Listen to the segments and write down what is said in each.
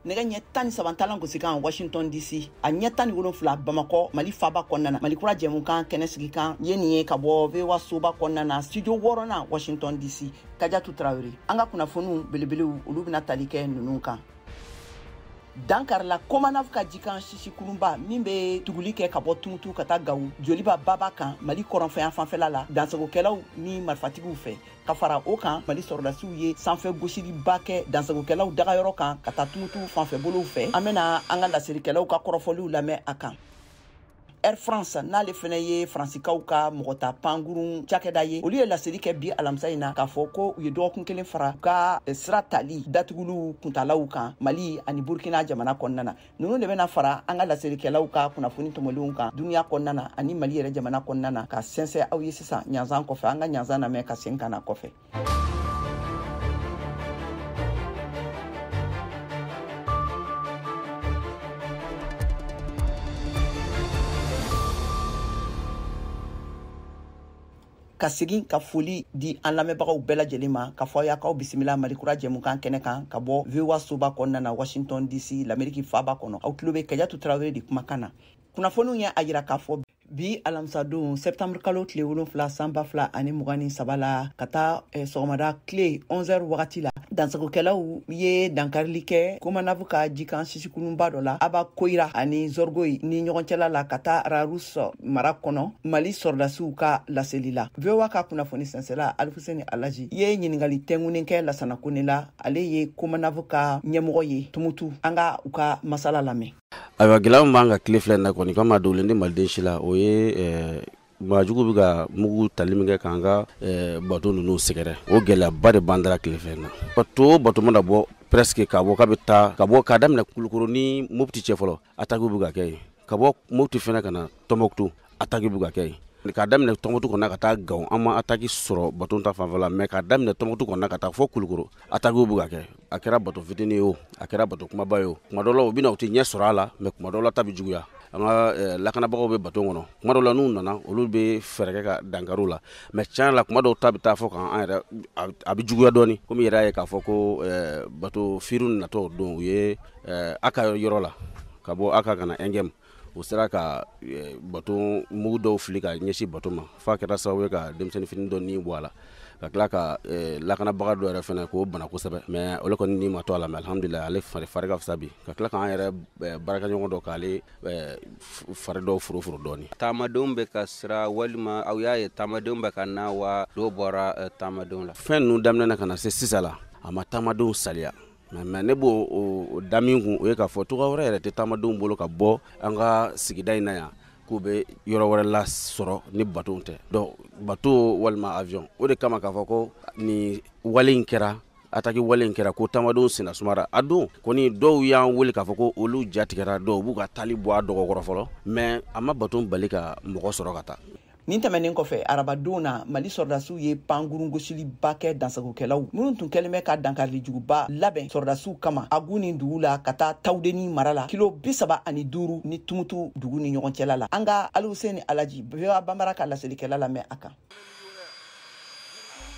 nɛgɛ ɲɛ tan ni saba talan gosikan washington dc a ɲɛ tan ni wolonfila bamakɔ mali faba kɔnɔna na mali kura jɛmukan kɛnɛ sigikan ye nin ye ka bɔ vowa soba kɔnɔna na studio wɔɔrɔnan washington dc kajatu tarawele an ka kunnafoniw belebelew olu bɛna tali kɛ nunu kan dankarila komanav ka jikan sisi kurunba min bɛ tuguli kɛ ka bɔ tumutu ka taa gawo joliba baba kan mali kɔrɔnfɛ yanfanfɛla la dansagokɛlaw ni marifatigiw fɛ ka fara o kan mali sɔrɔdasiw ye sanfɛ gosiliba kɛ dansagokɛlaw dagayɔrɔ kan ka taa tumutu fanfɛbolow fɛ an bɛna an ka laselikɛlaw ka kɔrɔfɔliw lamɛn a kan air france n'ale fɛnɛ ye faransikaw ka mɔgɔta pankurun cakɛda ye olu ye laseli kɛ bi alamisa in na k'a fɔ ko u ye dɔgɔkun kelen fara u ka eh, sira tali datuguliw kuntalaw kan mali ani burkina jamana kɔnɔna na ninnu de bɛna fara an ka laselikɛlaw ka kunnafoni tɔmɔlenw kan duniɲa kɔnɔna na ani mali yɛrɛ jamana kɔnɔna na ka sɛnsɛ aw ye sisan ɲanzan kɔfɛ an ka ɲanzan namɛn ka segin ka na kɔfɛ ka segin ka foli di an lamɛnbagaw bɛɛ lajɛlen ma k'a fɔ aw ye k'aw bisimila mali kura jɛmukan kɛnɛ kan ka bɔ voa soba kɔnɔna na washington dc lameriki faba kɔnɔ aw tulo bɛ kajatu tarawele de kumakan na kunnafoniw y'a yira k'a fɔ bi alamisadon septembre kalo tile wolonfila san ba fila ani mugan ni saba la ka taa eh, sɔgɔmada tile 11 wagati la dansagokɛlaw ye dankarili kɛ komanav ka jikan sisikurunba dɔ la abakoyira ani zɔrgoyi ni ɲɔgɔn cɛla la ka taa rarus mara kɔnɔ mali sɔrɔdasiw ka laseli la voa ka kunnafoni sɛnsɛla alifuseni alaji ye ɲiningali tɛngunen kɛ lasana kone la ale ye komanav ka ɲɛmɔgɔ ye tumutu an ka u ka masala lamɛn ayiwa gɛlɛya min b'an kan tile fila in na kɔni quand même a dogolen tɛ maliden si la o ye eh, maajugu bɛ ka mugu tali min kɛ k'an ka eh, bato ninnu sɛgɛrɛ o gɛlɛyaba de b'an da la tile fila in na bato o bato mana bɔ presque ka bɔ k'a bɛ taa ka bɔ k'a daminɛ kulukoro ni mopti cɛ fɔlɔ atakiw bɛ ka kɛ yen ka bɔ mopti fɛnɛ ka na tɔnbɔkutu ataki bɛ ka kɛ yen k'a daminɛ tɔnbɔkutu kɔnɔ ka taa gawo an ma ataki sɔrɔ bato ta fanfɛ la mɛ k'a daminɛ tɔnbɔkutu kɔnɔ ka taa fɔ kulukoro atakiw bɛ ka kɛ a kɛra bato fitinin ye o a kɛra bato kunbaba ye o kuma dɔ la u bɛ na u tɛ ɲɛ sɔrɔ a la mɛ kuma dɔ la ta bɛ juguya an ka eh, lakanabagaw bɛ bato kɔnɔ kuma dɔ la n'u nana olu bɛ fɛɛrɛ kɛ ka dankari u la mɛ tiɲɛ la kuma dɔw ta bɛ taa fɔ kan an yɛrɛ a bɛ juguya dɔɔni komi i yɛrɛ y'a ye k'a fɔ ko eh, bato firun natɔ don u ye eh, a ka yɔrɔ la ka bɔ a ka kana ɛngɛmu u sera ka eh, bato mugu dɔw fili ka ɲɛsin bato ma f'a kɛra sababu ye ka denmisɛnnin fitinin dɔ ni bɔ a la ka tila ka eh, lakanabaga dɔ yɛrɛ fɛnɛ k'o bana kosɛbɛ mɛ olu kɔni ni ma to a la mɛ alhamdulila ale fari fari ka fisa bi ka tila k'an yɛrɛ eh, baarakɛɲɔgɔn dɔ k'ale fari dɔw foroforo dɔɔni taamadenw bɛ ka sira walima aw y'a ye taamadenw bɛ ka na wa dɔ bɔra taamadenw la fɛn ninnu daminɛna ka na se sisan la a ma taamadenw saliya mɛ mɛ ne b'o o da min kun o ye k'a fɔ cogoya wɛrɛ yɛrɛ tɛ taamadenw bolo ka bɔ an ka sigida in na yan k'u bɛ yɔrɔ wɛrɛ lasɔrɔ ni bato tɛ dɔn bato walima awiyɔn o de kama k'a fɔ ko nin wale in kɛra ataki wale in kɛra ko taamadenw senna sumara a don kɔni dɔw y'an wele k'a fɔ ko olu ja tigɛra dɔw b'u ka taali bɔ a dɔgɔ kɔrɔ fɔlɔ mɛ a ma bato bali ka mɔgɔ sɔrɔ ka taa nin tɛmɛnen kɔfɛ arabadon na mali sɔrɔdasiw ye pangurun gosiliba kɛ dansagokɛlaw minnu tun kɛlen bɛ ka dankarilijuguba labɛn sɔrɔdasiw kama aguni dugu la ka taa tawudeni mara la kilo bisaba ani duuru ni tumutu dugu ni ɲɔgɔn cɛla la an ka alihuseni alaji voa banbara ka laselikɛla lamɛn a kan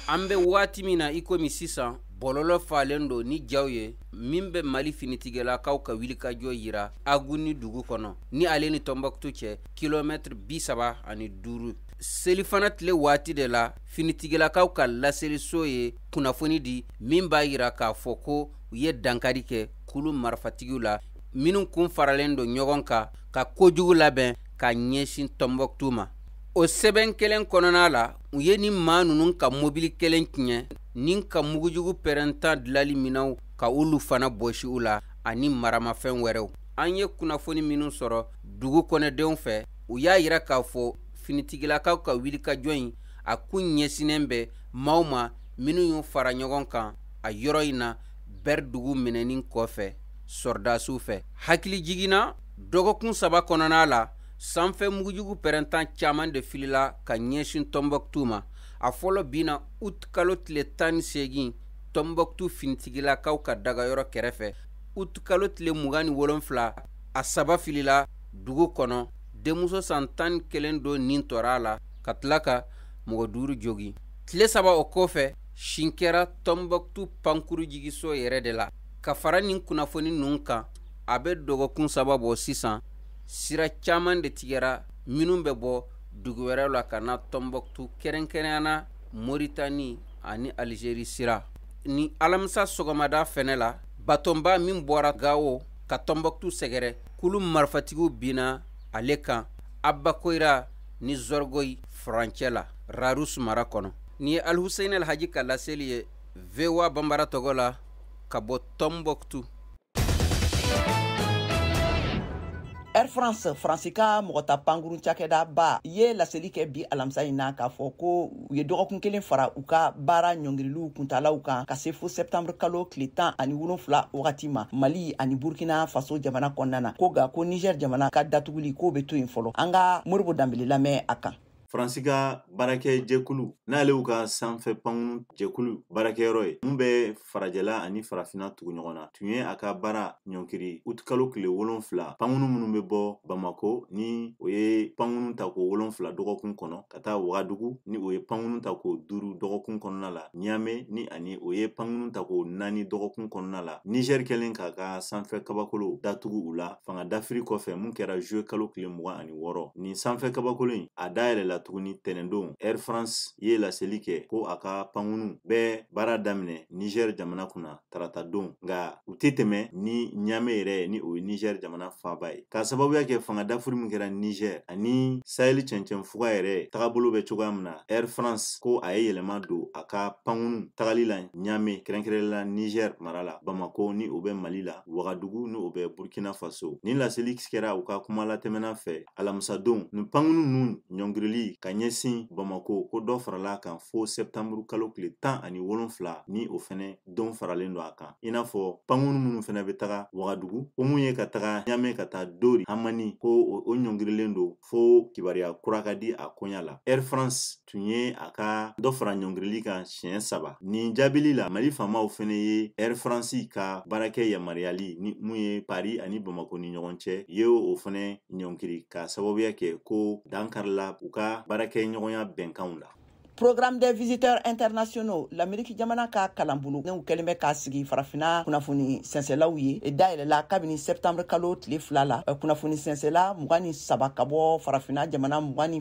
an bɛ waati min na i komi sisan bɔlɔlɔ falen don ni jaw ye min bɛ mali finitigilakaw ka wilikajɔ yira aguni dugu kɔnɔ ni ale ni tɔnbɔkutu cɛ kilomɛtiri bi saba ani duuru selifana tile waati de la finitigilakaw ka laseliso ye kunnafoni di min b'a yira k'a fɔ ko u ye dankari kɛ kulu marifatigiw la minnu kun faralen don ɲɔgɔn kan ka kojugu labɛn ka ɲɛsin tɔnbɔkutu ma o sɛbɛn kelen kɔnɔna la u ye nin maa ninnu ka mobili kelen tiɲɛ ni ka mugujugu pɛrɛntan dilali minɛnw ka olu fana bɔsi u la ani maramafɛn wɛrɛw an ye kunnafoni minnu sɔrɔ dugu kɔnɔdenw fɛ u y'a yira k'a fɔ finitigilakaw ka wulikajɔ in a kun ɲɛsinnen bɛ maaw ma minnu y'u fara ɲɔgɔn kan a yɔrɔ in na bɛri dugu minɛni kɔfɛ sɔrɔdasiw fɛ hakilijigin na dɔgɔkun saba kɔnɔna la sanfɛ mugujugu pɛrɛntan caman de filila ka ɲɛsin tɔnbɔkutu ma a fɔlɔ binna uti kalo tile tan ni seegin tɔnbɔkutu finitigilakaw ka dagayɔrɔ kɛrɛfɛ uti kalo tile mugan ni wolonfila a saba filila dugu kɔnɔ denmuso san tan ni kelen dɔ ni tora a la ka tila ka mɔgɔ duuru jogin tile saba o kɔfɛ sin kɛra tɔnbɔkutu pankuru jigiso yɛrɛ de la ka fara nin kunnafoni ninnu kan a bɛ dɔgɔkun saba bɔ sisan sira caman de tigɛra minnu bɛ bɔ dugu wɛrɛw la ka na tɔnbɔkutu kɛrɛnkɛrɛnyana moritani ani alizeri sira nin alamisa sɔgɔmada fɛnɛ la batonba min bɔra gawo ka tɔnbɔkutu sɛgɛrɛ kulu marifatigiw binna ale kan abakoyira ni zɔrɔgoyi furancɛ la rarus mara kɔnɔ nin ye alhusein alhaji ka laseli ye voa banbara tɔgɔ la ka bɔ tɔnbɔkutu Air France faransi ka mɔgɔ ta pankuru cakɛda ba ye laseli kɛ bi alamisa in na k'a fɔ ko u ye dɔgɔkun kelen fara u ka baara ɲɔngiriliw kuntalaw kan ka se fo sɛptanburu kalo tile tan ani wolonfila wagati ma mali ani burkina faso jamana kɔnɔna na ko nka ko niger jamana ka datuguli k'o bɛ to yen fɔlɔ an ka modibo danbele lamɛn a kan faransi ka baarakɛ jɛkulu n'ale y'u ka sanfɛ pankunu jɛkulu baarakɛyɔrɔ ye mun bɛ farajɛla ani farafina tugu ɲɔgɔn na tun ye a ka baara ɲɔngiri utikalo tile wolonfila pankunu minnu bɛ bɔ bamako ni o ye pankunu ta ko wolonfila dɔgɔkun kɔnɔ ka taa wagadugu ni o ye pankunu ta ko duuru dɔgɔkun kɔnɔna la ɲame ni ani o ye pankunu ta ko naani dɔgɔkun kɔnɔna la nizɛri kɛlen k'a ka sanfɛ kabakolo datugu u la fanga dafiri kɔfɛ mun kɛra juwe kalo tile mugan ani wɔɔrɔ nin sanfɛ kabakolo in a dayɛlɛla tuguni tɛnɛndon air france ye laseli kɛ ko a ka pankunu bɛ baara daminɛ niger jamana kunna tarata don nka u tɛ tɛmɛ ni ɲame yɛrɛ ni o ye niger jamana faaba ye k'a sababuya kɛ fanga dafiri min kɛra niger ani saheli cɛncɛn fuga yɛrɛ tagabolo bɛ cogoya min na air france ko a ye yɛlɛma don a ka pankunu tagali la ɲame kɛrɛnkɛrɛnla niger mara la bamako ni o bɛ mali la wagadugu ni o bɛ burkina faso nin laseli kɛra u ka kuma latɛmɛna fɛ alamisadon nin pankunu ninnu ɲɔngirili ka ɲɛsin bamako ko dɔ farala a kan fo sɛptanburu kalo tile tan ani wolonfila ni o fɛnɛ dɔ faralen don a kan i n'a fɔ pankunu minnu fɛnɛ bɛ taga wagadugu ko mun ye ka taga ɲame ka taa diori hamani ko o ɲɔngirilen don fo kibaruya kura ka di a koɲa la air france tun ye a ka dɔ fara ɲɔngirili kan siɲɛ saba nin jaabili la mali faamaw fɛnɛ ye air france ka baarakɛ yamaruyali ni mun ye pari ani bamako ni ɲɔgɔn cɛ ye o fɛnɛ ɲɔngiri k'a sababuya kɛ ko dankarila u ka baarakɛ ɲɔgɔnya bɛnkanw la Programme des visiteurs internationaux l'Amérique jamana ka kalanbolo n'u kɛlen bɛ k'a sigi farafina kunnafoni sɛnsɛlaw ye e dayɛlɛla kabini septembre kalo tile fila la e kunnafoni sɛnsɛla mugan ni saba ka bɔ farafina jamana mugan ni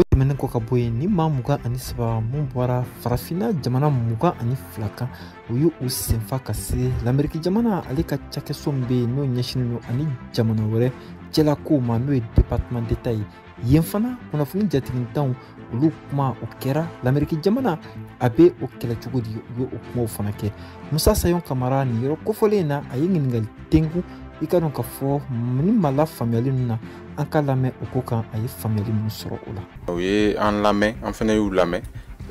o tɛmɛnen kɔ ka bɔ yen nin maa mugan ani saba mun bɔra farafinna jamana mugan ani fila kan u ye u senfa ka se lameriki jamana ale ka cakɛso min bɛ yen n'o ɲɛsinnen don a ni jamana wɛrɛ cɛlakow ma n'o ye departement d'etat ye yen fana kunnafoni jatigitanw olu kuma o kɛra lameriki jamana a bɛ o kɛlɛ cogo di u ye o kumaw fana kɛ musa sayon kamara nin yɔrɔ kofɔlen na a ye ɲininkali tenku i k'a dɔn k'a fɔ ni ma la faamuyali ninnu na an k'a lamɛn o ko kan a ye faamuyali minnu sɔrɔ o la u ye an lamɛn an fana y'u lamɛn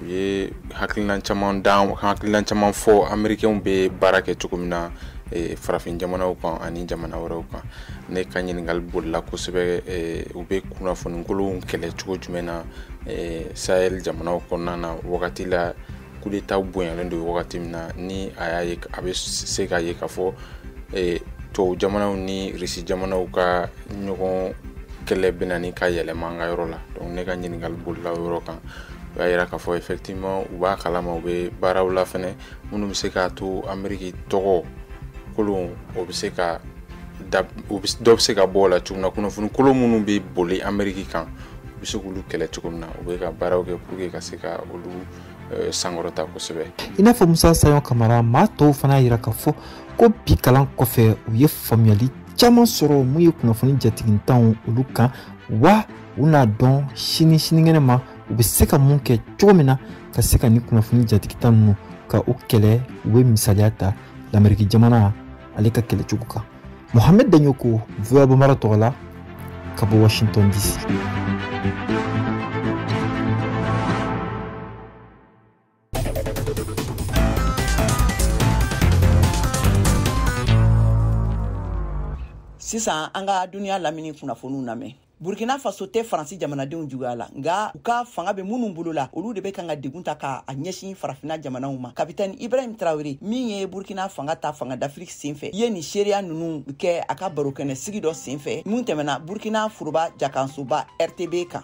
u ye hakilina hakilina caman fɔ amerikɛnw bɛ baara kɛ cogo min na farafin jamanaw kan ani jamana wɛrɛw kan ne ka ɲininkali bolila kosɛbɛ eh, u bɛ kunnafonikolonw kɛlɛ cogo jumɛn na eh, sahel jamanaw kɔnɔna na wagati la kudetaw bonyalen don wagati min na ni a y'a ye a bɛ se k'a ye k'a fɔ eh, tubabu jamanaw ni risi jamanaw ka ɲɔgɔn kɛlɛ bɛ ɲini ka yɛlɛma an ka yɔrɔ la donc ne ka ɲininkali bolila o yɔrɔ kan u y'a yira k'a fɔ effectivement u b'a kalama u bɛ baaraw la fɛnɛ minnu bɛ se k'a to ameriki tɔgɔ kolon o bɛ se ka da u bɛ dɔ bɛ se ka bɔ o la cogo min na kunnafoni kolon minnu bɛ boli ameriki kan u bɛ se k'olu kɛlɛ cogo min na u bɛ ka baaraw kɛ pour que ka se ka olu eh, sankɔrɔta kosɛbɛ i n'a fɔ musa sayɔ kamara maa tɔw fana y'a jira k'a fɔ ko bi kalan kɔfɛ u ye faamuyali caman sɔrɔ mun ye kunnafoni jatigintanw olu kan wa u n'a dɔn sini sinikɛnɛ ma u bɛ se ka mun kɛ cogo min na ka se ka nin kunnafoni jatigintan ninnu ka u kɛlɛ u bɛ misaliya ta lameriki jamana ale ka kɛlɛcogo kan mohamed danyoko voa bambara tɔgɔ la ka bɔ washington dc sisan an ka duniya lamini kunnafoniw lamɛn burkina faso tɛ faransi jamanadenw juguya la nka u ka fanga bɛ minnu bolo la olu de bɛ kan ka degun ta ka a ɲɛsin farafina jamanaw ma kapitɛni ibrahim tarawele min ye burkina fanga ta fanga dafiri senfɛ ye nin seereya ninnu kɛ a ka barokɛnɛ sigi dɔ senfɛ min tɛmɛna burkina foroba jakansoba rtb kan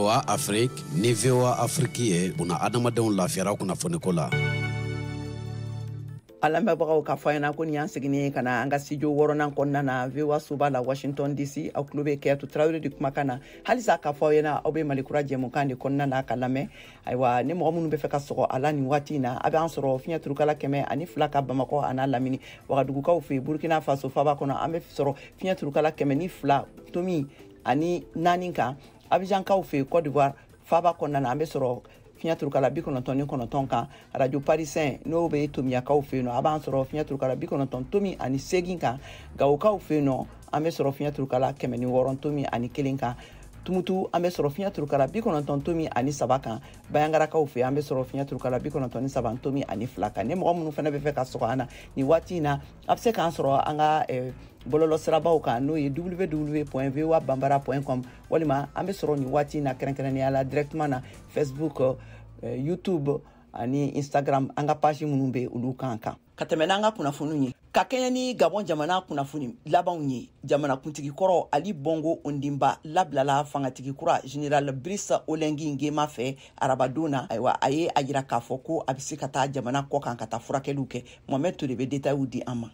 VOA Afrique ni VOA Afrique ye buna adamadenw lafiyara kunnafoniko la. an lamɛnbagaw k'a fɔ aw ɲɛna ko nin y'an seginnen ye ka na an ka studio wɔɔrɔnan kɔnɔna na voa soba la washington dc aw tulo bɛ kajatu tarawele de kumakan na halisa k'a fɔ aw ɲɛna aw bɛ mali kura jɛmukan de kɔnɔna na k'a lamɛn ayiwa ni mɔgɔ minnu bɛ fɛ ka sɔgɔ an na nin waati in na a b'an sɔrɔ fiɲɛ turukala kɛmɛ ani fila kan bamakɔ an'a lamini wagadugukaw fɛ burkina faso faba kɔnɔ an bɛ sɔrɔ fiɲɛ turukala kɛmɛ ni fila tomi ani naani kan abijankaw fɛ cote d'ivoire faba kɔnɔna na an bɛ sɔrɔ fiɲɛ turukala bi kɔnɔntɔn ni kɔnɔntɔn kan arajo parisɛn n'o bɛ tominyankaw fɛ yen nɔ a b'an sɔrɔ fiɲɛ turukala bi kɔnɔntɔn tomi ani segin kan gawokaw fɛ yen nɔ an bɛ sɔrɔ fiɲɛ turukala kɛmɛ ni wɔɔrɔ tomi ani kelen kan tumutu an bɛ sɔrɔ fiɲɛ turukala bi kɔnɔntɔn tomi ani saba kan banjagarakaw fɛ an bɛ sɔrɔ fiɲɛ turukala bi kɔnɔntɔn ni saba tomi ani fila kan ni mɔgɔ minnu fana bɛ fɛ ka sɔgɔ an na nin waati in na a bɛ se k'an sɔrɔ an ka eh, bɔlɔlɔ sirabaw kan n'o ye www voa bambara com walima an bɛ sɔrɔ nin waati in na kɛrɛnkɛrɛnnenya la directement na facebook uh, youtube ani instagram an ka page minnu bɛ olu kan kan ka tɛmɛ n'an ka kunnafoniw ye ka kɛɲɛ ni gabɔn jamana kunnafoni labanw ye jamanakuntigi kɔrɔ ali bongo ondimba labilala fangatigi kura general brice oligui nguema fɛ arabadon na ayiwa a ye a yira k'a fɔ ko a bɛ se ka taa jamana kɔ kan ka taa furakɛliw kɛ mohamɛd toure bɛ detayiw di an ma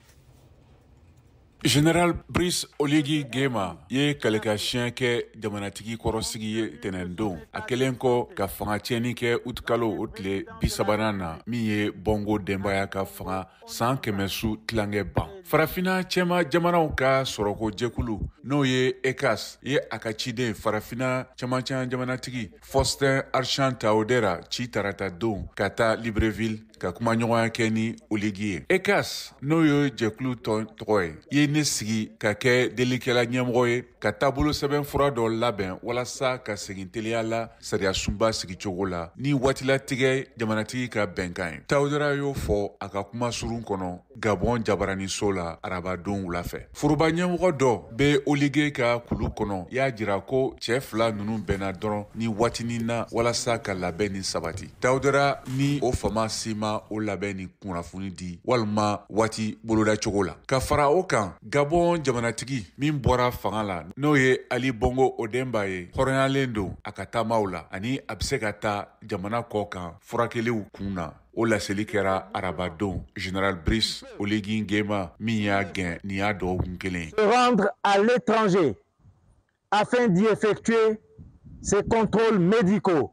General Brice Oligui Nguema ye kalikan siɲɛ kɛ jamanatigi kɔrɔsigi ye tɛnɛndon a kɛlen kɔ ka fanga tiɲɛni kɛ utikalo o tile bisabanan na min ye Bongo denbaya ka fanga san kɛmɛ su tilankɛ ban farafina cɛma jamanaw ka sɔrɔko jɛkulu n'o ye ECCAS ye a ka ciden farafina cɛmancɛ jamanatigi Faustin Archange Touadéra ci taratadon ka taa libreville ka kumaɲɔgɔnya kɛ ni oligui ye ECCAS n'o ye jɛkulu tɔgɔ ye ye ne sigi ka kɛ delikɛla ɲɛmɔgɔ ye ka taabolo sɛbɛnfura dɔ labɛn walasa ka segin teliya la sariyasunba sigicogo la ni waatilatigɛ jamanatigi ka bɛnkan ye touadéra y'o fɔ a ka kuma surun kɔnɔ Gabon jabaraniso la arabadon wula fɛ foroba ɲɛmɔgɔ dɔ bɛ oligui ka kulu kɔnɔ y'a jira ko cɛ fila ninnu bɛnna dɔrɔn nin waatinin na walasa ka labɛnni sabati touadéra ni o faama si ma o labɛnni kunnafoni di walima waati boloda cogo la ka fara o kan gabon jamanatigi min bɔra fanga la n'o ye ali bongo ondimba ye hɔrɔnyalen don a ka taamaw la ani a bɛ se ka taa jamana kɔ kan furakɛliw kun na O laseli kɛra arabadon zinara bris oge gɛnma min y'a gɛn nin y'a dɔgɔkun kelen ale tɔnze a fɛn diɲɛ fɛ tu ye se kɔnto mdi ko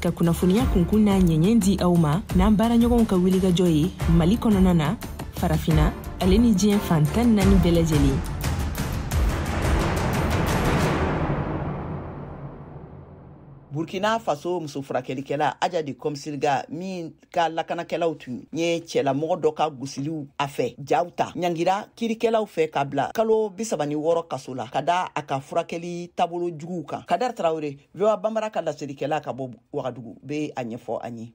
ka kunnafoniya kunkun n'a ɲɛɲɛ di aw ma n'an baaraɲɔgɔnw ka wulikajɔ ye mali kɔnɔna na farafina ale ni diɲɛ fan tan naani bɛɛ lajɛlen burkina faso muso furakɛlikɛla adja de komsilga min ka lakanakɛlaw tun ye cɛlamɔgɔ dɔ ka gosiliw a fɛ jaw ta ɲangira kiirikɛlaw fɛ ka bila kalo bisaba ni wɔɔrɔ kaso la ka da a ka furakɛli taabolo juguw kan kader traoré voa bambara ka laselikɛla ka bɔ wagadugu bɛ a ɲɛfɔ an ye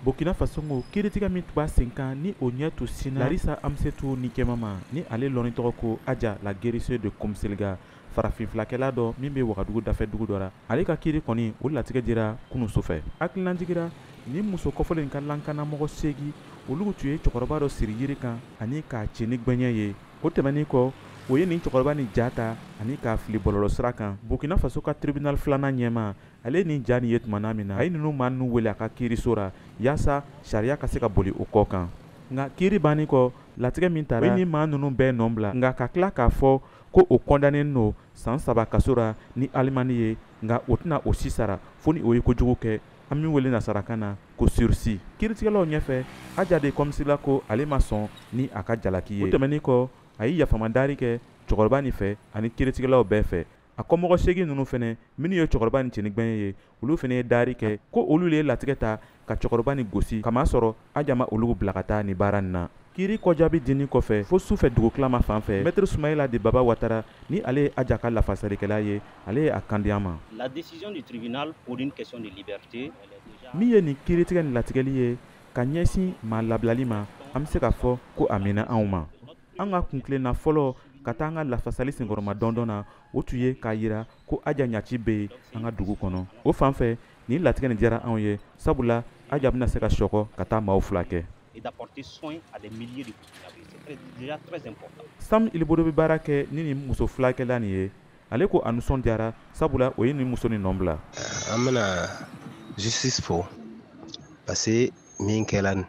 burkina faso ko kiiritigɛ min tun b'a sen kan ni o ɲɛ tun sinna larissa amsétou nikiéma ma ni ale lɔnni tɔgɔ ko adja la guérisseuse de komsilga farafinfilakɛla dɔ min bɛ wagadugu dafɛ dugu dɔ la ale ka kiiri kɔni o latigɛ dira kunu sufɛ hakililajigi ra nin muso kɔfɔlen in ka lankanamɔgɔ seegi olu tun ye cɛkɔrɔba dɔ siri yiri kan ani k'a ci ni gbɛɲɛ ye o tɛmɛnen kɔ o ye nin cɛkɔrɔba nin ja ta ani k'a fili bɔlɔlɔ sira kan burkina faso ka tribunal filanan ɲɛmaa ale ye nin ja nin ye tuma na min na a ye ninnu maa ninnu wele a ka kiiriso ra yaasa sariya ka se ka boli o kɔ kan nka kiiri bannen kɔ latigɛ min tara o ye nin maa ninnu bɛɛ nɔ bila nka ka tila k'a fɔ ko o kɔndanenin lo san saba kaso ra ni alimani ye nka o tɛna o si sara fo ni o ye kojugu kɛ an min wele nasarakan na ko sursi kiritigɛlaw ɲɛfɛ aja de kɔmsilga ko ale ma sɔn ni a ka jalaki ye o tɛmɛnin kɔ a ye yafama daari kɛ cɛkɔrɔba nin fɛ ani kiritigɛlaw bɛɛ fɛ a kɔmɔgɔ seegin ninnu fɛnɛ minnu ye cɛkɔrɔba nin ci ni gbɛɲɛ ye olu fɛnɛ ye daari kɛ ko olu le ye latigɛ ta ka cɛkɔrɔba nin gosi kamasɔrɔ aja ma olu bila ka taa ni baara nin na kiiri kɔjaabi dinin kɔfɛ fo su fɛ dugutilama fan fɛ mɛtiri sumayila de baba watara ni ale ye aja ka lafasalikɛla ye ale ye a kan di an ma la décision du tribunal pour une question de liberté min ye nin kiritigɛ ni latigɛli ye ka ɲɛsin maa labilali ma an bɛ se k'a fɔ ko a bɛnna anw ma an ka kuntilenna fɔlɔ ka taa an ka lafasali senkɔrɔmadondon na o tun ye k'a yira ko aja ɲaci bɛ yen an ka dugu kɔnɔ o fan fɛ nin latigɛ nin diyara anw ye sabula aja bɛna se ka sekɔ ka taa maaw filakɛ sam ilbudo bɛ baara kɛ ni nin muso filakɛla nin ye ale ko a nisɔndiyara sabula o ye nin muso nin nɔ bila an bɛna justice fo parce que min kɛla nin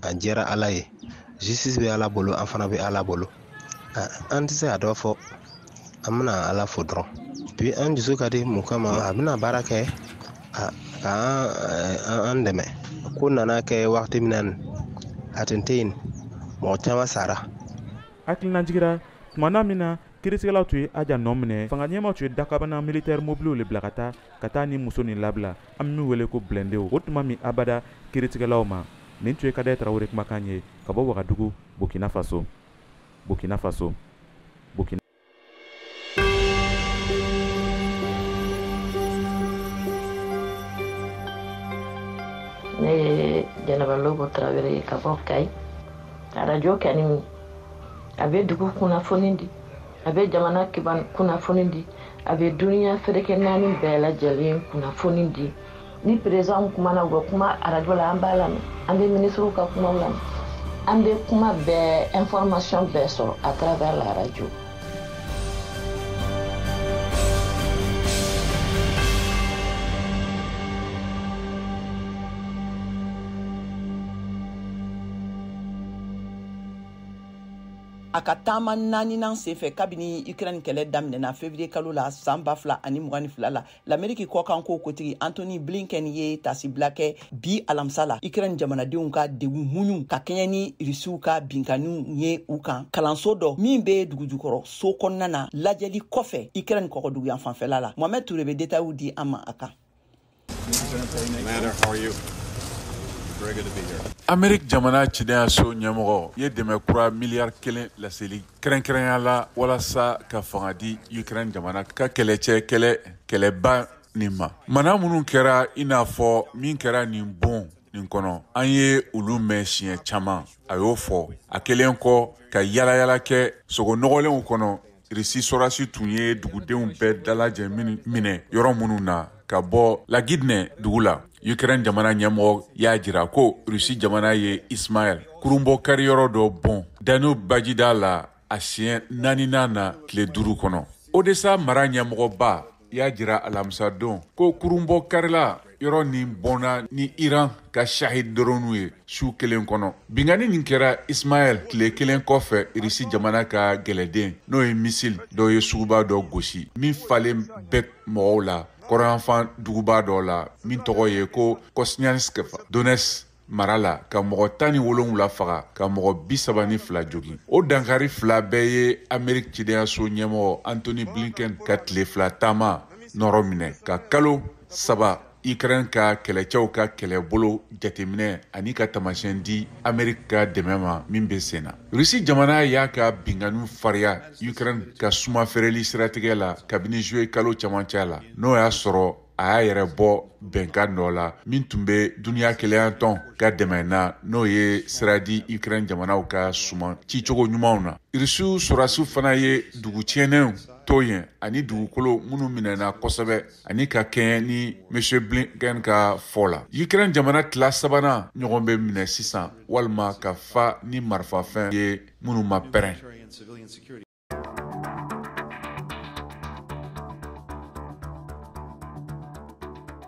a diyara ala ye justice bɛ ala bolo an fana bɛ ala bolo an tɛ se ka dɔ fɔ an bɛna ala fo dɔrɔn puis an dusu ka di mun kama a bɛna baara kɛ ka an dɛmɛ ko nana kɛ wagati min na nin a tun tɛ yen mɔgɔ caman sara hakililajigi ra tuma na min na Kiritigɛlaw tun ye Aja nɔ minɛ, fanga ɲɛmaaw tun ye dakabana militaire mobiliw le bila ka taa ka taa nin muso nin labila, an bɛ min wele ko blindéw, o tun ma bɛn abada kiritigɛlaw ma. Nin tun ye Kadɛr Tarawele kumakan ye ka bɔ Wagadugu, Burkina Faso. Burkina Faso. Ne ye Jɛnɛba Lobo Tarawele ye ka bɔ Kayi, arajo kɛni a bɛ dugu kunnafoni di a bɛ jamana kiban kunnafoni di a bɛ duniya seleke naani bɛɛ lajɛlen kunnafoni di ni perezidanw kumana u bɛ kuma arajo la an b'a lamɛn an bɛ minisiriw ka kumaw lamɛn an bɛ kuma bɛɛ information bɛɛ sɔrɔ à travers la radio a ka taama naaninan senfɛ kabini ukraine kɛlɛ daminɛna fevrier kalo la san ba fila ani mugan ni fila la lameriki kɔkanko kotigi antony blinken ye tasibila kɛ bi alamisa la ukraine jamanadenw ka degun muɲu ka kɛɲɛ ni risiw ka binkaniw ye u kan kalanso dɔ min be dugujukɔrɔ so kɔnɔna na lajɛli kɔfɛ ukraine kɔgɔduguyanfan fɛla la mohamɛd ture be detayiw di an ma a kan Ameriki jamana cidenyaso ɲɛmɔgɔ ye dɛmɛ kura miliyari kelen laseli kɛrɛnkɛrɛnya la walasa ka fanga di ukraine jamana ka kɛlɛcɛ kɛlɛ kɛlɛba nin ma mana minnu kɛra i n'a fɔ min kɛra nin bon nin kɔnɔ an ye olu mɛn siɲɛ caman a y'o fɔ a kɛlen kɔ ka yaalayaala kɛ sogo nɔgɔlenw kɔnɔ Irisi sɔrɔdasi tun ye dugudenw bɛɛ dalajɛ minɛ yɔrɔ minnu na ka bɔ Lagidnɛ dugu la, Ukraine jamana ɲɛmɔgɔ y'a jira ko Russie jamana ye Ismail kurunbɔ kariyɔrɔ dɔ bon Danube bajida la a siɲɛ naaninan na tile duuru kɔnɔ. Odessa mara ɲɛmɔgɔba y'a jira alamisadon ko kurunbɔ karila yɔrɔ nin bonna ni iran ka shahid drone ye su kelen kɔnɔ binkani nin kɛra ismail tile kelen kɔfɛ irisi jamana ka gɛlɛden n'o ye misil dɔ ye suguba dɔ gosi min falen bɛ mɔgɔw la kɔrɔnyanfan duguba dɔ la min tɔgɔ ye ko kosniansk donetsk mara la ka mɔgɔ tan ni wolonwula faga ka mɔgɔ bisaba ni fila jogin o dankari fila bɛɛ ye amerik cidenyaso ɲɛmɔgɔ antony blinken ka tile fila taama nɔrɔ minɛ ka kalo saba ukraine ka kɛlɛcɛw ka kɛlɛbolo jateminɛ ani ka taamasiyɛn di amerik ka dɛmɛ ma min bɛ sen na rusi jamana y'a ka binkaniw fariya ukraine ka suman feereli siratigɛ la kabini juillet kalo camancɛ la n'o y'a sɔrɔ a y'a yɛrɛ bɔ bɛnkan dɔ la min tun bɛ duniya kelenya tɔn ka dɛmɛ na n'o ye sira di ukraine jamanaw ka suman cicogo ɲumanw na irisiw sɔrasiw fana ye dugu tiɲɛnenw to yen ani dugukolo minnu minɛna kosɛbɛ ani ka kɛɲɛ ni monsieur blinken ka fɔ la ukraine jamana tila sabanan ɲɔgɔn bɛ minɛ sisan walima ka fa ni marifafɛn ye minnu ma pɛrɛn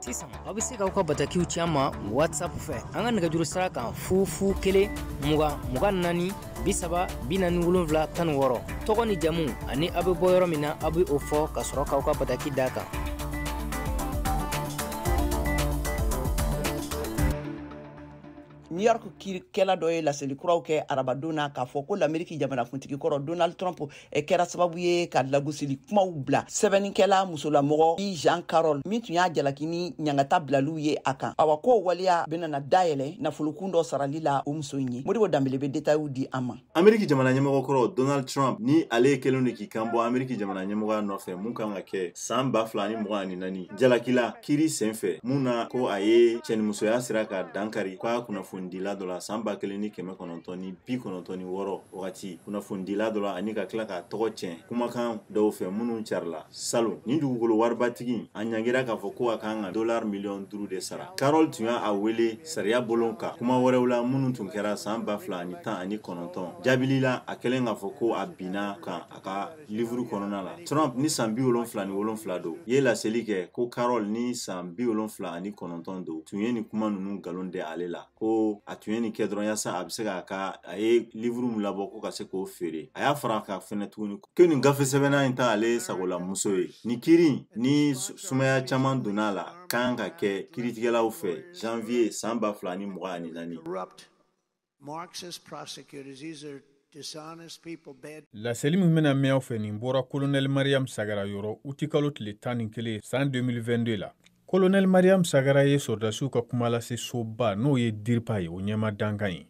sisan aw bɛ se k'aw ka batakiw ci an ma whatsapp fɛ an ka nɛgɛjuru sira kan fufu kelen mugan mugan naani bi saba bi naani wolonfila tan ni wɔɔrɔ tɔgɔ ni jamu ani aw bɛ bɔ yɔrɔ min na aw bɛ o fɔ ka sɔrɔ k'aw ka bataki d'a kan new york kiirikɛla dɔ ye laseli kuraw kɛ arabadon na k'a fɔ ko lameriki jamanakuntigi kɔrɔ donald trump eh, kɛra sababu ye ka lagosili kumaw bila sɛbɛnnikɛla musolamɔgɔ e jean carroll min tun y'a jalaki ni ɲangata bilaliw ye a kan awa k'o waleya benana dayɛlɛ nafolokun dɔ sarali la o muso in ye modibo danbele be detayiw di an ma ameriki jamana ɲɛmɔgɔ kɔrɔ donald trump ni ale kɛlen don k'i kan bɔ ameriki jamana ɲɛmɔgɔya nɔfɛ mun kan ka kɛ san ba fila ni mugan ani naani jalakila kiri sen fɛ mun na ko a ye cɛnimusoya sira ka dankari k'a kunnafonidila dɔ la san ba kelen ni kɛmɛ kɔnɔntɔn ni bi kɔnɔntɔn ni wɔɔrɔ wagati kunnafonidila dɔ la ani ka tila k'a tɔgɔ tiɲɛ kumakan dɔw fɛ minnu carila Salon nin dugukolo waribatigi a ɲangira k'a fɔ ko a kan ka dolari miliyɔn duuru de sara Carroll tun y'a wele sariya bolon kan kuma wɛrɛw la minnu tun kɛra san ba fila ani tan ani kɔnɔntɔn jaabili la a kɛlen k'a fɔ ko a binna a kan a ka livuru kɔnɔna la Trump ni san bi wolonfila ni wolonfila don ye laseli kɛ ko Carroll ni san bi wolonfila ani kɔnɔntɔn don tun ye nin kuma ninnu nkalon da ale la ko a tun ye nin kɛ dɔrɔn yasa a bɛ se k'a ka a ye livuru min labɔ ko ka se k'o feere a y'a fara a kan fɛnɛ tuguni ko nin gafe sɛbɛnna in tɛ ale sagola muso ye nin kiri ni sumaya caman donna a la kan ka kɛ kiritigɛlaw fɛ janvier san ba fila ni mugan ani naani laseli min bɛna mɛn aw fɛ nin bɔra kolonɛli mariyamu sagara yɔrɔ utikalo tile tan ni kelen san 2022 la kolonɛli mariyamu sagara ye sɔrɔdasiw ka kuma lase soba n'o ye diripa ye o ɲɛmaa dankan ye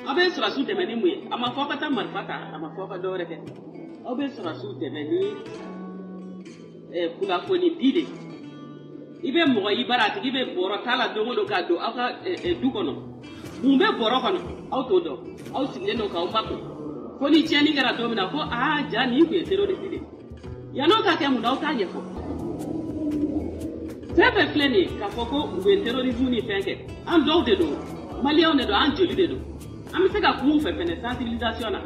aw bɛ sɔrɔdasiw dɛmɛ ni mun ye a ma fɔ aw ka taa marifa ta a ma fɔ aw ka dɔ wɛrɛ kɛ aw bɛ sɔrɔdasiw dɛmɛ ni eh, kunnafoni di de i bɛ mɔgɔ i bara a tigi bɛ bɔrɔ ta la don o don ka don aw ka eh, eh, du kɔnɔ mun bɛ bɔrɔ kɔnɔ aw t'o dɔn aw sigilen don k'aw makun fo ni tiɲɛni kɛra don min na ko aa jaa nin tun ye terorisi de ye yan'o ka kɛ mun na aw t'a ɲɛfɔ fɛn fɛn filɛ nin ye k'a fɔ ko u bɛ terrorisme ni fɛn kɛ an dɔw de don maliyɛnw de don an joli de don an bɛ se ka kuma u fɛ fɛnɛ sensibilisation na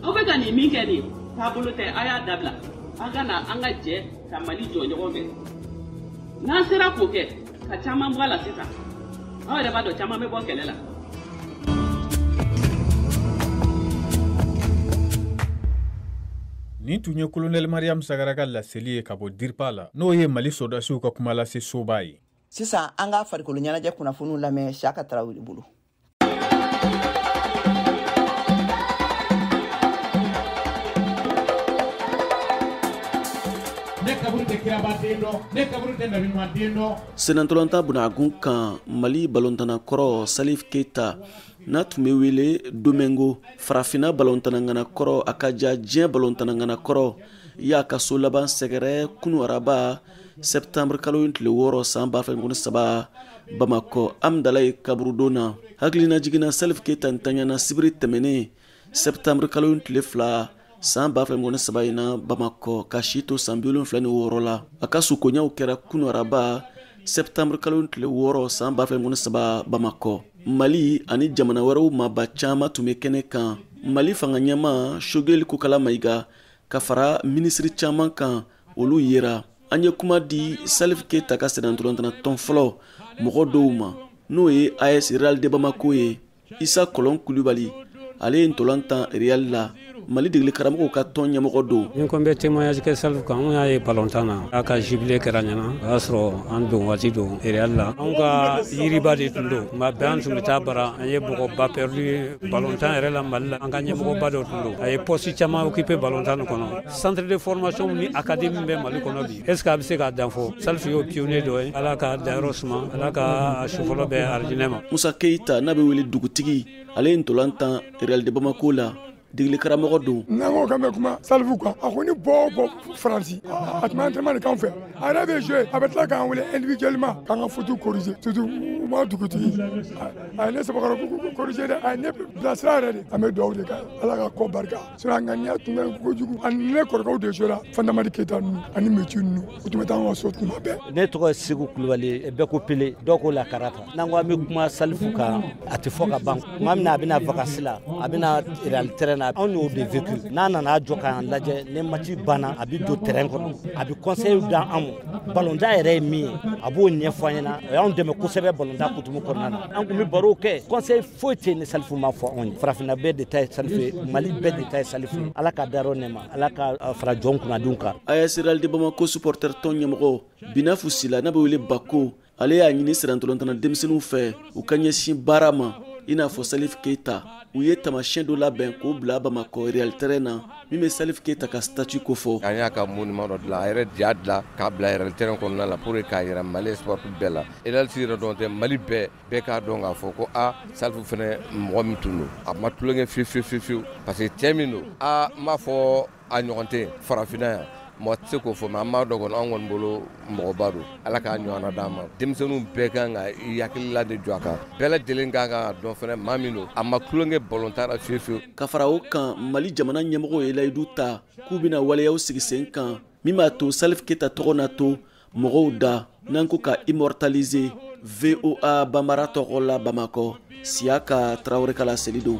aw bɛ ka nin min kɛ nin taabolo tɛ a y'a dabila an ka na an ka jɛ ka mali jɔ ɲɔgɔn fɛ n'an sera k'o kɛ ka caman bɔ a la sisan aw yɛrɛ b'a dɔn caman bɛ bɔ kɛlɛ la nin tun ye kolonɛli mariyamu sagara ka laseli ye ka bɔ diripa la n'o ye mali sɔrɔdasiw ka kuma lase soba ye sisan an ka farikolo ɲɛnajɛ kunnafoniw lamɛn saka tarawele bolo sennantolatan bunagun kan mali balontanna kɔrɔ salif keita n'a tun bɛ wele domingo farafina balontanna ŋana kɔrɔ a ka ja diɲɛ balontanna ŋana kɔrɔ y'a ka so laban sɛgɛrɛ kunu araba septembre kalo in tile wɔɔrɔ san ba fila mugan ni saba bamakɔ amdalayi kaburudon na hakilinajigin na salif keyita ntanyana sibiri tɛmɛnen septembre kalo in tile fila san ba fila mugan ni saba in na bamakɔ k'a si to san bi wolonfila ni wɔɔrɔ la a ka sukonyaw kɛra kunu araba septembre kalo in tile wɔɔrɔ san ba fila mugan ni saba bamakɔ mali ani jamana wɛrɛw maaba caman tun bɛ kɛnɛ kan mali fanga ɲɛmaa shogeli kokala mayiga ka fara minisiri caman kan olu yera an ye kuma di salif keyita ka sennantolantanna tɔn fɔlɔ mɔgɔ dɔw ma n'o ye as real de bamako ye isa kɔlɔn kulibali ale ye ntolan tan real la mali degeli karamɔgɔw ka tɔn ɲɛmɔgɔ don ni n ko n bɛ témoignage kɛ salif kan anw y'a ye balontan na a ka jubile kɛra ɲɛna o y'a sɔrɔ an don waati don real la anw ka yiriba de tun don tuma bɛɛ an tun bɛ taa a bara an ye mɔgɔba perdu balontan yɛrɛ la mali la an ka ɲɛmɔgɔba dɔ tun don a ye poste caman occupé balontan kɔnɔ centre de formation ni académie min bɛ mali kɔnɔ bi est ce que a bɛ se k'a dan fɔ salifu y'o pionnier dɔ ye ala k'a dayɔrɔ suma ala k'a su fɔlɔ bɛn arijinɛ ma musa keyita n'a bɛ wele dugutigi ale ye ntolan tan real de bamako la degeli karamɔgɔ don n'an ko k'an bɛ kuma salifu kan a kɔni bɔ o bɔ faransi a tun bɛ entraînement de k'an fɛ a yɛrɛ bɛ jouer a bɛ tila k'an wele individuellement k'an ka faute corriger surtout moi dugutigi a ye ne sɛbɛkɔrɔ corriger dɛ a ye ne bilasira yɛrɛ de an bɛ dugawu de kɛ ala k'a kɔ barika sinon a ŋaniya tun bɛ kojugu ani ne kɔrɔkɛw de jouera fantamadi keyita ninnu ani meci ninnu u tun bɛ taa an ka so tuma bɛɛ ne tɔgɔ ye seku kulubali ye bɛɛ ko pele dɔw ko lakarata n'an ko an bɛ kuma salifu kan a tɛ fɔ ka ban tuma min na a bɛ na vakansi la a bɛ na real terrain na anw y'o de vécu n'a nana jɔ k'an lajɛ ni match banna a bɛ don terrain kɔnɔ a bɛ conseil d'an ma balontan yɛrɛ ye min ye a b'o ɲɛfɔ an ɲɛna o y'anw dɛmɛ kosɛbɛ balontan kutumu kɔnɔna na an tun bɛ baro kɛ conseil foyi tɛ ni salifu ma fɔ anw ye farafinna bɛɛ de ta ye salifu ye mali bɛɛ de ta ye salifu ye ala k'a dayɔrɔ nɛɛma ala k'a fara jɔn kunnadenw kan as real de bamako supporter tɔn ɲɛmɔgɔ binafu sila n'a bɛ wele bako ale y'a ɲini sennantolantanna denmisɛnninw fɛ u ka ɲɛsin baara ma i n'a fɔ salif keita u ye taamasiyɛn dɔ labɛn k'o bila bamakɔ real terrain na min bɛ salif keita ka statue kofɔ an y'a ka monument dɔ dilan a yɛrɛ de y'a dilan k'a bila real terrain kɔnɔna la pour que k'a yira mali sport bɛɛ la real yɛrɛ dɔrɔn tɛ mali bɛɛ bɛɛ k'a dɔn k'a fɔ ko a salifu fɛnɛ mɔgɔ min tun don a ma tulonkɛ fiyewu fiyewu parce que cɛ min don an m'a fɔ a ɲɔgɔn tɛ farafinna yan mɔgɔ tɛ se k'o fɔ mais an b'a dɔn kɔni an kɔni bolo mɔgɔba don ala k'a ɲɔgɔnna d'an ma denmisɛnninw bɛɛ kan ka i hakilila de jɔ a kan bɛɛ lajɛlen ka kan k'a dɔn fɛnɛ maa min don a ma tulonkɛ balontan na fiyewu fiyewu ka fara o kan mali jamana ɲɛmɔgɔw ye layidu ta k'u bɛna waleyaw sigi sen kan min b'a to salif keita tɔgɔ na to mɔgɔw da n'an ko ka immortaliser voa bambara tɔgɔ la bamakɔ siyaka tarawele ka laseli don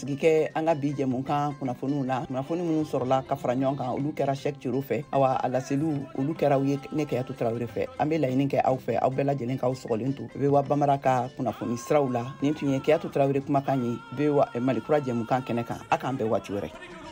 sigi kɛ an ka bi jɛmukan kunnafoniw na kunnafoni minnu sɔrɔla ka fara ɲɔgɔn kan olu kɛra sɛk cero fɛ awa a laseliw olu kɛra u ye ne kɛyatu tarawele fɛ an bɛ laɲini kɛ aw fɛ aw bɛɛ lajɛlen k'aw sɔgɔlen to voa bambara ka kunnafoni siraw la nin tun ye kɛyatu tarawele kumakan ye voa eh, malikura jɛmukan kɛnɛ kan a k'an bɛn waati wɛrɛ